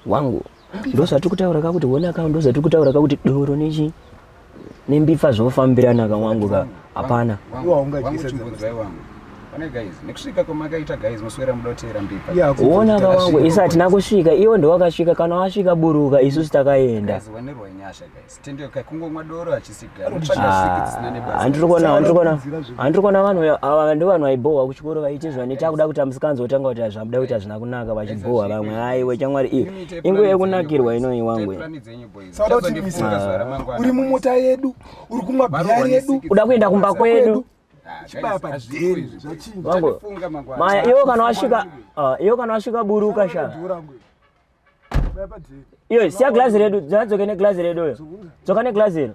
wangu ndozvatiri kutaura ka kuti wonaka ndozvatiri kutaura ka kuti doro nechi nembifa zvofambirana ka wangu ka hapana ona ka wangu isu hatina kusvika iwo ndowakasvika kana wasvika buruka isusu takaenda handiri kuona vanhu ava ndo vanhu vaibhohwa kuchikoro vaite zvane takuda kuti amusikanzi otanga kuti zvamuda kuti hazvina kunaka vachibhohwa vamwe aiwe chamwari iyo inguva yekunakirwa inoyi wangu sauda kutimisa uri mumota yedu uri kumwa bhiya redu uda kuenda kumba kwedu maya iwo kana wasvika ah, iwo kana wasvika buruka sha iyo siya glazi redu dzadzoke neglazi redu uyo dzoka neglazi iro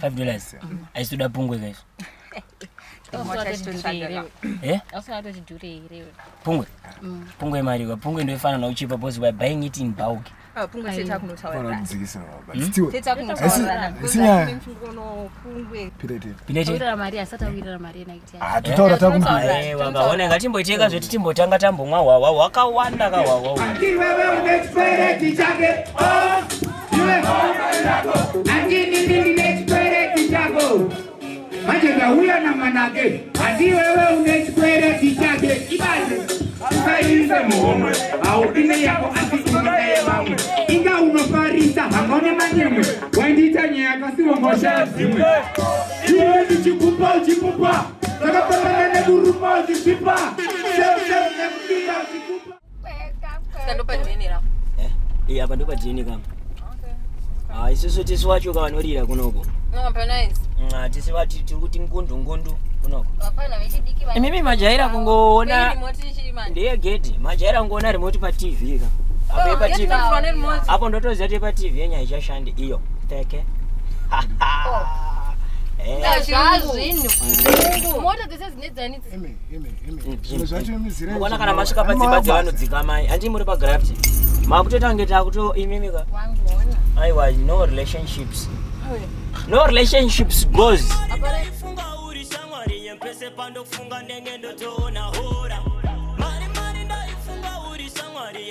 five dollars aisitoda pungwe kaizvo eh? pungwe mm. pungwe imari ka pungwe ndoifana nauchipa bcause weare buying it in bulk ah, hmm? hatitaura takumboona ngatimboitenga zveti timbotanga tambomwa hwahwa hwakawanda kahwahwa manje ndauya namanake hati wewe une chikwereti chake ibaze usaise muhomwe haudi neyako asi unaye vamwe inga unofarisa hangone manyemwe waindiita nyaya kasiwongoshaa zimwe iwe ndichikupa uchikupa ndakafanana nekuruma uchisipa seeekudira uchikupa eh, apa ndopa dna kama ah, isusu tisi wacho kawanorira kunoko ah, tisi vati tiri kuti ngundu ngundu kunoko imimi majaira kungoona ndeye gedhi majaira kungoona rimoti patv ka apo oh, epatv apo ndotoziva kuti epatv yenyaya ichashanda iyo pfeke zvazvinhuona kana masvika padzimba dzevanodzika mai handii muri pagraft makutoita kunge takutoimimika aiwa no relationships no relationships goes pese pandofunga ndenge ndotoona hora mari mari ndaifunga uri shamwari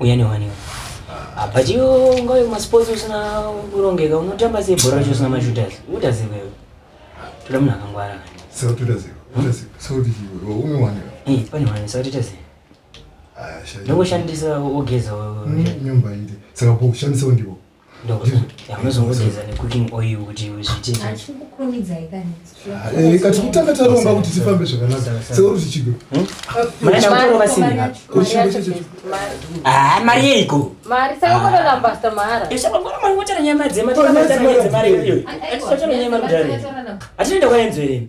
uya newaniwa apa chiyo ungave kumasports usina kurongeka unotamba sei bhora racho usina mashooters uta ziva iwe toda munhu akangwara kani sauti uta ziva uta ziva sauti chiwe unowanika eh pane wani sauti uta ziva ndongoshandisa ogeza nyumba ite saka kushandisawo ndivo ndokuzomusiza necooking oil kuti zviiteikati kutanga taronga kuti tifambe zvakanaka seuri zvichigo mari yeiko atinoenda kwaenzo here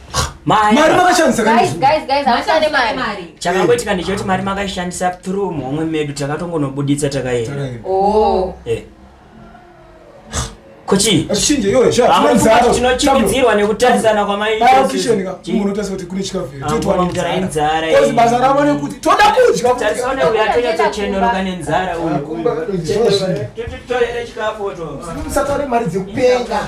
mari makashandisa chakangoitika ndechekuti mari makaishandisa through muhomwe medu takatongonobuditsa takaenda oh. eh. kochiitinochimidzirwa nekutarisana kwamaibasa ravo nekuti toda kudyatarisaoneuyatonyatsochenoroka nenzara uyumusatore mari dzekupenga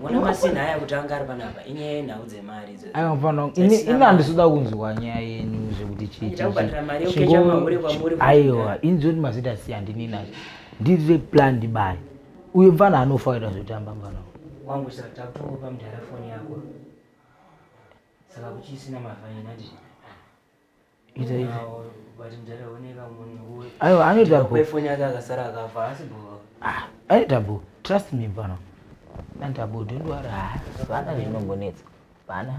Mwana masina haya kuti anga ari panapa inyaya yenhau dzemari idzo. Ayo mfana ini ini andisuda kunzwa nyaya yenyu zvekuti chii. Ndakubhadhara mari yokecha mahure kwamuri. Aiwa ini zvoti mazita si handini nazvo. Ndiri plan ndibari. Uyo mfana anofa kuita zvotamba mfana. Wangu saka takutokupa mudhara foni yako. Saka kuchisina mavhaina ndizvo. aiwa anoita bho ah, anoita bho trust me bana anoita bho don't worry ah, vana zvinongonetsa vana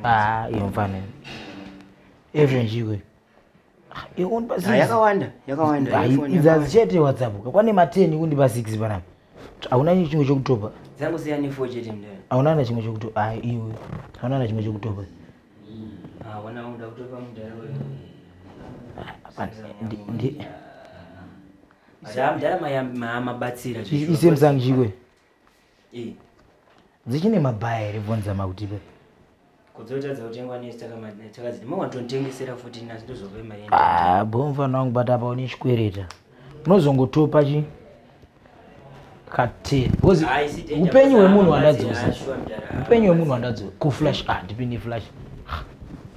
ah, iyo mfanira every njiwe Ah, yakawanda yakawanda idzazi chete whatsapp kakwane ma 10 kundipa 6 panapa hauna chimwe chokutopa dzangosiya ne 4 chete mndani hauna na chimwe chokutopa ah iwe hauna na chimwe chokutopa ah wana unoda kutopa mndani wewe ndi Zam dala mayamba mabatsira. Isemsang jiwe. Eh. Dzichine mabaya here vonza mautipe. Kudzotadza kutengwa nesi takadziti mawatotengesera futi nasi ndozove maenda. Ah, bomva nangu bata pa une chikwereta. Unozongotopa chi kati because upenyu wemunhu wandadzosa. Upenyu wemunhu wandadzosa ku flash ah ndipini flash.